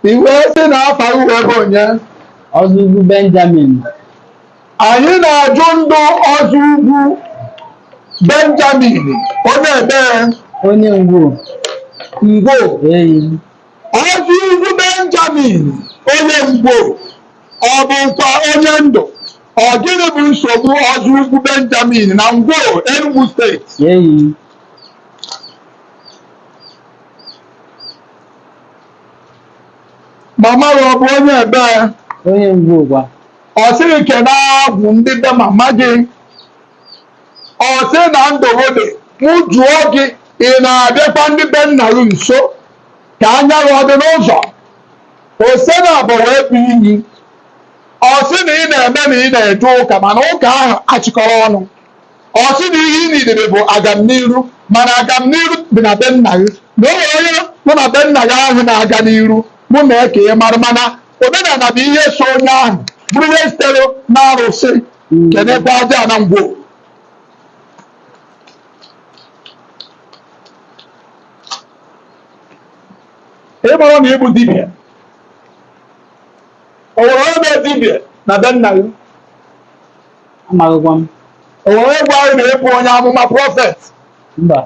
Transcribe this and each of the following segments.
I wee sị na afa gị wee bụ onye? Ọzọugwu Benjamin. Anyị na-ajụ ndụ Ọzọugwu Benjamin onye ebee Onye Ngwo. Ngwo Eyi. Ọzọugwu Benjamin onye Ngwo ọ bụkwa onye ndụ ọ gịnị bụ nsogbu Ọzọugwu Benjamin na Ngwo Enugu steeti Eyi. mama gị ọ bụ onye ebee onye Ngwo ụgwa ọ sị gị kene agwụ ndị be mama gị ọ sị na ndụgụ dị mụ jụọ gị ị na-abịakwa ndị be nna gị nso ka anya gị ọ dị n'ụzọ ose naabọ wee bụ iyi ọ sị na ị na-eme na ị na-eje ụka mana ụka ahụ achịkọrọ ọnụ Ọ sị na ihe ị nidere bụ agamniru, mana agamniru dị na be nna gị, na o nwere onye nọ na be nna gị ahụ na-aga n'iru, mụ mee ka ị mara, mana omenala bụ ihe so onye ahụ bụrụ ihe sitere n'arụsị kenekwa ajana Ngwo. Ị mara na ị bụ dibịa, o nwere onye bụ dibịa na be nna gị? amaghịkwa m O nwere gwa gị na ị bụ onye amụma prophet. mba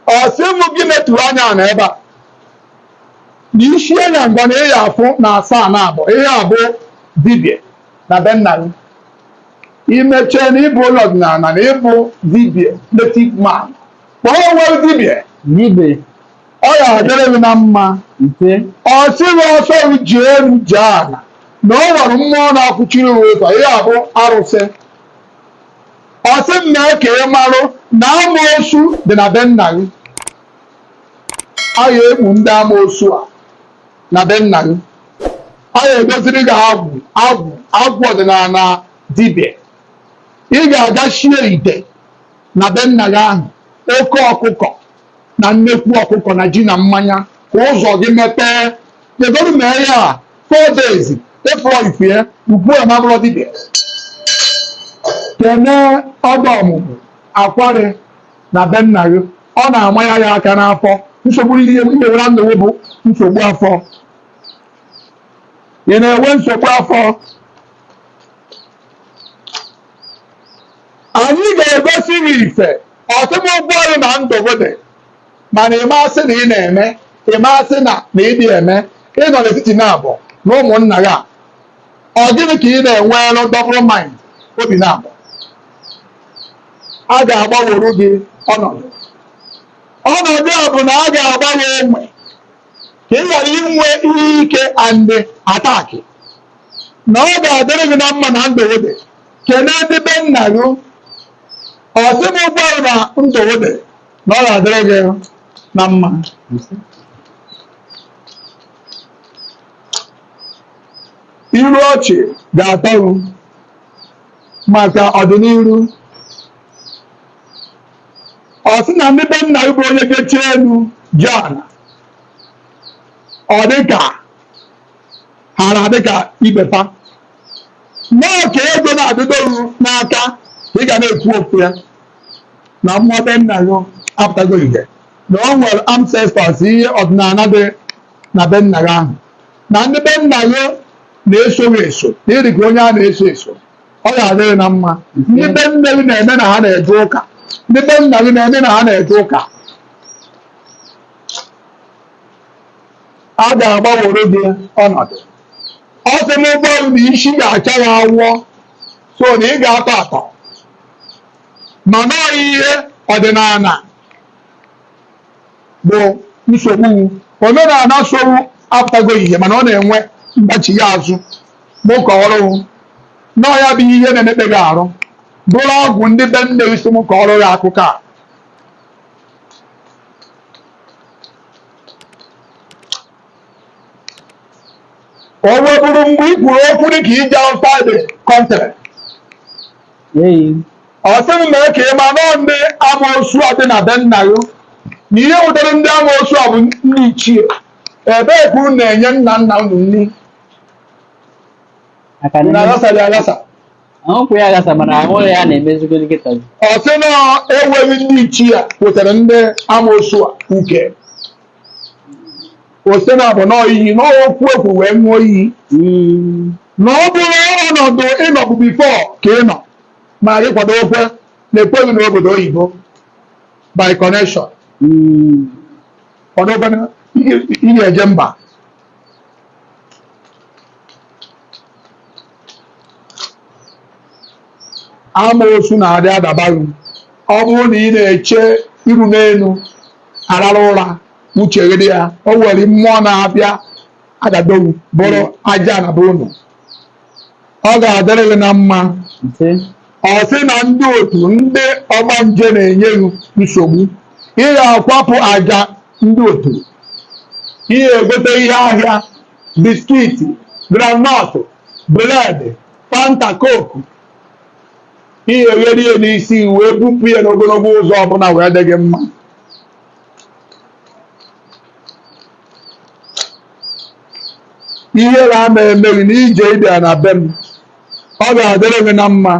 Ọ sị m gị netụrụ anya na ebe a. Na isi anya ngwa na ị ya afụ na asaa na abụọ. Ị ya abụ dibịa na be nna gị. Imechie na ị bụ onye ọdịnala na ị bụ dibịa native man. Kpọọ onwe gị dibịa. dibe ọ ya adịrị gị na mma ise ọ sị gị ọ sọ gị jee elu jee ala na ọ nwere mmụọ na-akwụchiri gị ụzọ ihe a bụ arụsị ọ sị m mee ka ị marụ na amoosu dị na be nna gị a ya egbu ndị amoosu a na be nna gị a ya edoziri gị agwụ agwụ agwụ ọdịnala dibịa ị ga-aga shie ite na be nna gị ahụ oke ọkụkọ na nnekwu ọkụkọ na ji na mmanya ka ụzọ gị mepee kpegoro mee ya a four days ị fụrọ ife ugbu a m abụrọ dibịa kene ọda ọmụmụ akwarị na be nna gị ọ na-amanye ya aka n'afọ nsogbu ị nwere na ndụ gị bụ nsogbu afọ ị na-enwe nsogbu afọ Anyị ga-egosi gị ife ọ sị mụ gwa gị na ndụ gị dị mana ị masị na ị na-eme ị masị na na ịdị eme ị nọ n'etiti naabọ na ụmụnna gị a ọ gịnị ka ị na-enwelụ double mind obi naabọ a ga-agbanwere gị ọnọdụ ọnọdụ a bụ na a ga-agbanwe enwe ka ị ghara inwe ihe ike and attack na ọ ga-adịrị gị na mma na ndụ gị dị kene ndị be nna gị ọ sị mụ gwa gị na ndụ dị na ọ ga-adịrị gị na mma iru ọchị ga-atọ gị maka ọdịnihu ọ sị na ndị be nna gị bụ onye kechi elu ji ala ọ dịka ha na-adịka ibepa mmụọ ka ego na-adịdo gị n'aka ka ị ga na-ekwu okwu ya na mmụọ be nna gị apụtago ihe na o nwere ancestors ihe ọdịnala dị na be nna gị ahụ na ndị be nna gị na-eso gị eso na ị dị ka onye a na-eso eso ọ ga-adịrị na mma ndị be nne gị na-eme na ha na-eje ụka ndị be nna gị na-eme na ha na-eje ụka a ga-agbanwere gị ọnọdụ ọ sị mụ gwa gị na isi ga-acha ya awọ so na ị ga-atọ atọ mana ọ ihe ọdịnala bụ nsogbu omenala so gị apụtago ihe mana ọ na-enwe mgbachi gị azụ mụ kọọrọ gị na ọ ya bụ ihe na-emekpa gị arụ bụrụ ọgwụ ndị be nne gị sị m kọọrọ gị akụkọ a o nweburu mgbe i kwuru okwu dị ka ije outside the country ọ sị m mee ka ị ma na ọ ndị amoosu a dị na be nna gị na ihe butere ndị amoosu a bụ ndị ichie ebee ka unu na-enye nna nna unu nri unu aghasara ya aghasa Ahụkwụ ya gasa mana ahụ ya na-emezigodi nkịta. Ọ sị na enweghị ndị ichie wetara ndị amoosu a uke. Ọ sị na abụ na ọ iyi na ọ okwu ekwu wee ṅụọ iyi. Mm. Na ọ bụ ọnọdụ ị nọbu before ka ị nọ ma gị kwado okwe na-ekweghị n'obodo oyibo by connection. Mm. Kwado okwe na ị na-eje mba. amaosu na-adị adaba gị ọ bụrụ na ị na-eche iru n'elu arara ụra uche gị dị ya o nwere mmụọ na-abịa adadowu buru aja na be unu ọ ga-adịrị gị na mma ọ sị na ndị otu ndị ọgbanje na-enye gị nsogbu ị ga-akwapụ aja ndị otu ị ga-egote ihe ahịa biskiti granọtụ bụredị fanta koku ị ga-egheri ya n'isi wee bupụ ya n'ogologo ụzọ ọbụla wee dị gị mma ihe a na-eme gị na ije ịbịa na be m ọ ga-adịrị gị na mma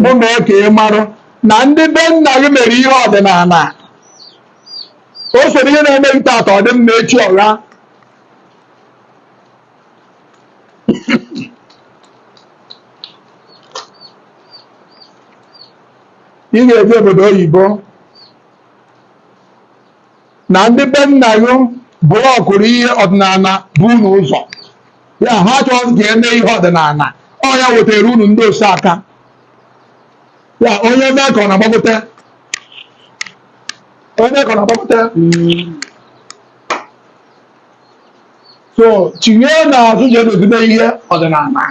mụ mee ka ị marụ na ndị be nna gị mere ihe ọdịnala o soro ihe na-eme gị taata ọ dị mma echi ọgha ị ga-eje obodo oyibo na ndị be nna gị blọkụrụ ihe ọdịnala be unu ụzọ ya ha chọọ ka e mee ihe ọdịnala ọ ya wetara unu ndị osa aka ya onye mee ka ọ na-agbagote onye mee ka ọ na-agbagote so tinye n'azụ je dozie ihe ọdịnala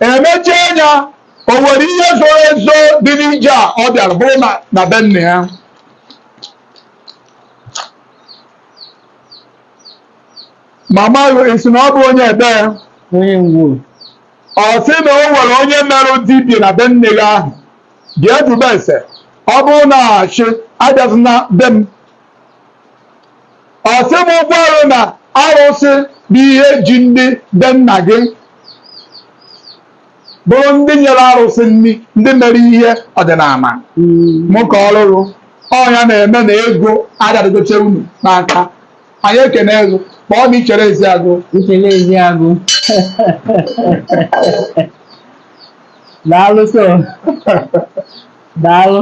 emechie anya o nwere ihe zoro ezo dị n'ije a ọ bịara bụrụ na be nna ya mama gị sị na ọ bụ onye ebe ya onye Ngwo ọ sị na o nwere onye merụ dibịa na be nne gị ahụ bịa jụba ese ọ bụrụ na achị abịazi na be m ọ sị m gwa unu na arụsị bụ ihe ji ndị be nna gị bụrụ ndị nyere arụsị nri ndị mere ihe ọdịnala mụ ka ọ lụrụ ọ nya na-eme na ego adadịgoche unu n'aka anyị ekene ego ma ọ na ichere ezi agụ Ntele ezi agụ. Daalụ so. Daalụ.